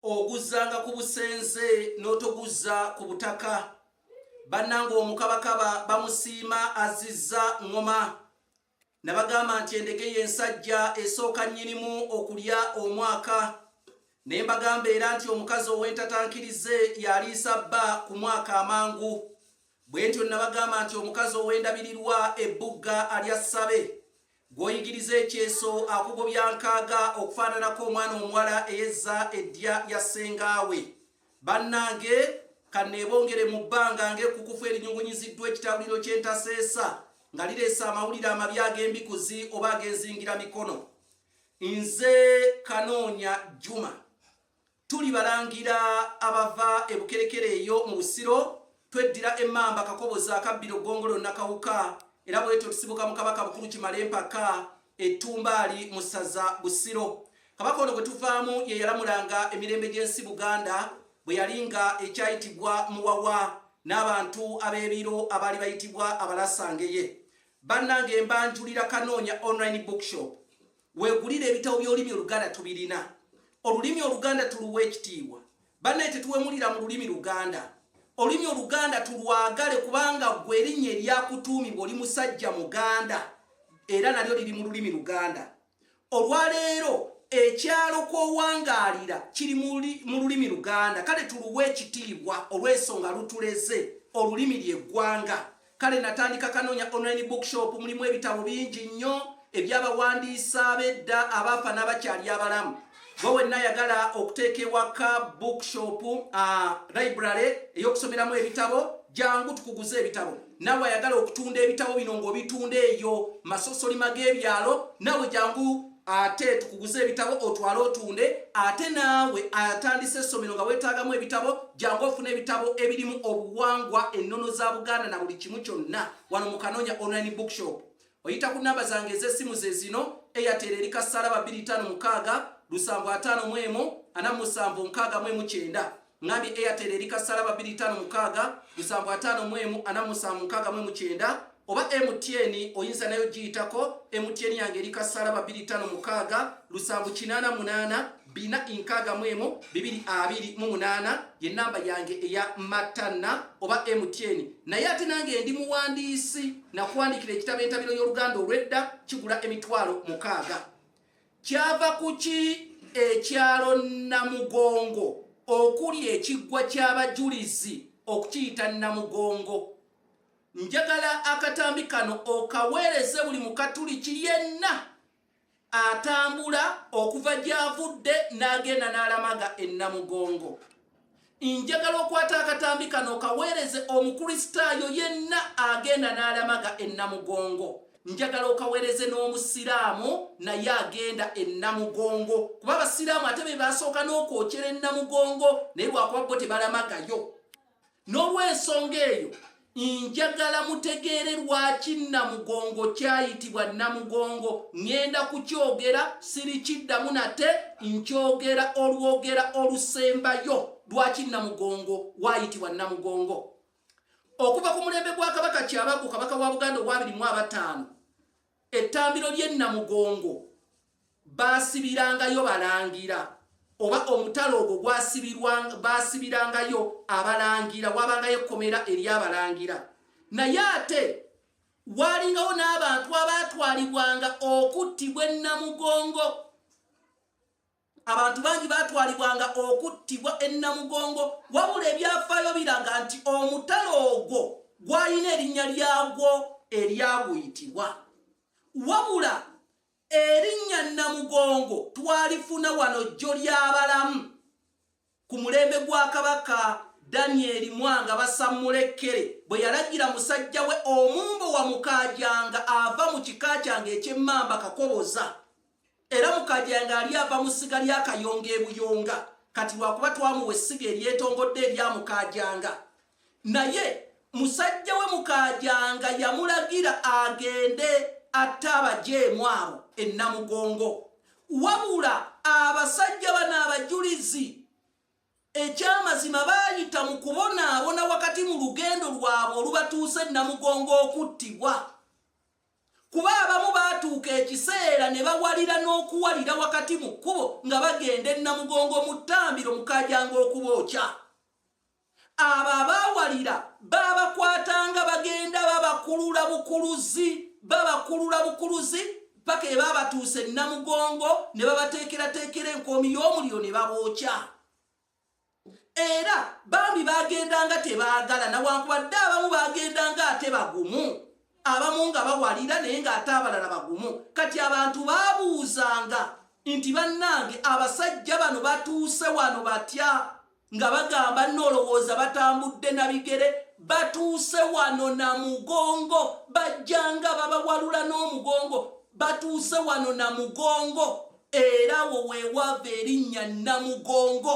oguzzanga ku busenze n'otoguzza ku butaka bannanga omukabakaba bamusiima azizza ŋŋoma nabagamba nti endege y'ensajja esooka nnyinimu okulya omwaka ne mbagamba era nti omukazi ow'entatankirize yaliisa bba ku mwaka amangu bwe ntyo nabagamba nti omukazi ow'endabirirwa ebbugga alya ssabe Gw'oyigiriza ekyeso akugobya nkaaga okufaananako omwana omuwala eyezza eddya lya ssengaawe. Bannange, kanneebongere mu bbanga ng'ekkukufu erinyugunyiziddwa ekitawuliro ky'entaseesa nga lireese amawulire amabi ag'embikuzi oba ag'enzingira mikono. Nze Kanoonya Juma. Tuli balangira abava e Bukerekere eyo mu Busiro, tweddira e Mamba, Kakoboza, Akabbiro, Ggongolo, Nakawuka era bwetyo tusibuka mu Kabaka Bukulu Kimale Mpaka e Ttumbaali mu ssaza Busiro. Kabaka ono gwe tuvaamu ye yalamulanga emirembe gy'ensi Buganda bwe yali nga ekyayitibwa Muwawa n'abantu ab'ebiro abaali bayitibwa Abalasangeye. Bannange mbanjulira Kanoonya Online Bookshop. Wegulire ebitabo by'olulimi Oluganda tubirina. Olulimi Oluganda tuluwa ekitiibwa. Banaye tetuwemulira mu lulimi Luganda. Olulimi Oluganda tulwagale kubanga gwe erinnya eryakutuumibwa oli musajja Muganda era nalyo liri mu lulimi Luganda. Olwaleero ekyalo kwowangaalira kiri mu lulimi luganda kale tuluwa ekitiibwa olw'ensonga lutuleze olulimi lye ggwanga Kale natandika Kanoonya Online Bookshop, mulimu ebitabo bingi nnyo eby'abawandiisa ab'edda abaafa n'abakyali abalamu. Gwe wenna ayagala okuteeka ewaka bookshop, uh, library ey'okusomeramu ebitabo, jangu tukuguze ebitabo. Nawe ayagala okutunda ebitabo bino ng'obitunda eyo masosolima g'ebyalo, nawe jangu. ate tukuguze ebitabo otwale otunde ate naawe atandise essomero nga weetaagamu ebitabo jangu ofuna ebitabo ebirimu obuwangwa ennono za buganda na buli kimu kyonna wano mu kanoonya online bookshop oyita ku namba zange ez'essimu ze zino eyatera eri kasaala ba 25 lusanvu ataano mu emu ana musanvu nkaaga mu emu kyenda Ngambye Airtel eri kasala ba 2556 musanvu mu emu ana musanvu nkaaga mu kyenda oba MTN oyinza nayo giyitako MTN yange eri kasala ba 2556 lusanvu kinaana munaana bina inkaaga mu emu bibiri abiri mu munaana ye namba yange eya matanna oba MTN naye ate nange ndi muwandiisi nakuwandiikira ekitabo entabiro y'oluganda olw'edda kigula emitwalo mukaaga. Kyava ku ki ekyalo Namugongo okuli ekiggwa ky'abajulizi okukiyita Namugongo? Njagala akatambi kano okaweereze buli Mukatuliki yenna atambula okuva gy'avudde n'agenda n'alamaga e Namugongo. Njagala okwata akatambi kano okaweereze Omukristaayo yenna agenda n'alamaga e Namugongo. Njagala okaweereze n'Omusiraamu naye agenda e Namugongo kuba Abasiraamu ate be basooka n'okwokyera e Namugongo naye lwakuba bo tebalamagayo. N'olw'ensonga eyo. Njagala mutegeere lwaki Namugongo kyayitibwa Namugongo. Ŋŋenda kukyogera, sirikiddamu nate. Nkyogera olwogera olusembayo lwaki Namugongo waayitibwa Namugongo. Okuva ku mulembe gwa Kabaka Kyabaggu, Kabaka wa Buganda ow'abiri mu abataano, Ettambiro ly'e Namugongo baasibirangayo balangira oba omutala ogwo baasibirangayo abalangira waabangayo ekkomera ery'abalangira naye ate waalingawo n'abantu abaatwalibwanga okuttibwa e Namugongo. Abantu bangi baatwalibwanga okuttibwa e Namugongo wabula ebyafaayo biraga nti omutala ogwo gwalina erinnya lyagwo eryaguyitibwa. Wabula erinnya Namugongo twalifuna wano jjo ly'abalamu. Ku mulembe gwa Kabaka Danyeri Mwanga Basammulekkere bwe yalagira musajja we Omumbo Wamukaajanga ava mu kika kyange eky'Emmamba Kakoboza era Mukaajanga ali ava mu ssiga lya Kayonga e Buyonga kati lwakuba twamuwa essiga eryetongodde erya Mukaajanga Naye musajja we Mukaajanga yamulagira agende atte abajeemu abo e Namugongo. Wabula abasajja bano abajulizi ekyamazima baayita mu kubonaabona wakati mu lugendo lwabwe olubatuusa e Namugongo okuttibwa. Kuba abamu baatuuka ekiseera ne bawalira n'okuwalira wakati mu kkubo nga bagenda e Namugongo mu ttambiro Mukaajanga okubookya. Abo abaawalira baabakwatanga bagenda babakulula bukuluzi babakulula bukuluzi paka ebaabatuusa e Namugongo ne babateekerateekera enkoomi y'omuliro ne babookya. Era bambi baagendanga tebaagala nawankubadde abamu baagendanga ate bagumu abamu nga bawalira naye ng'ate abalala bagumu. Kati abantu baabuuzanga nti bannange abasajja bano batuuse wano batya? nga bagamba nolowooza batambudde na bigere batuuse wano na mugongo bajjanga babawalula n'omugongo batuuse wano na mugongo era wo wewaava erinnya namugongo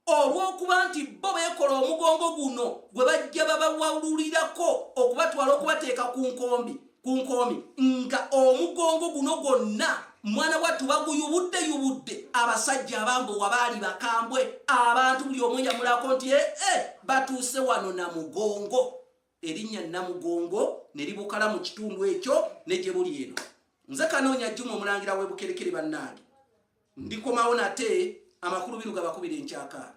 olw'okuba nti bo beekola omugongo guno gwe bajja babawalulirako okubatwala okubateeka ku nkombi ku nkoomi nga omugongo guno gwonna mwana wattu baguyubudde yubudde abasajja abambowa baali bakambwe abantu buli omu yamulako nti ee eh, eh, batuuse wano na mugongo erinnya namugongo ne libukala mu kitundu ekyo ne gye buli eno nze kanoonya juma omulangira w'ebukerekere bannange ndikomawo nate amakulu biruga bakubira enkyakaala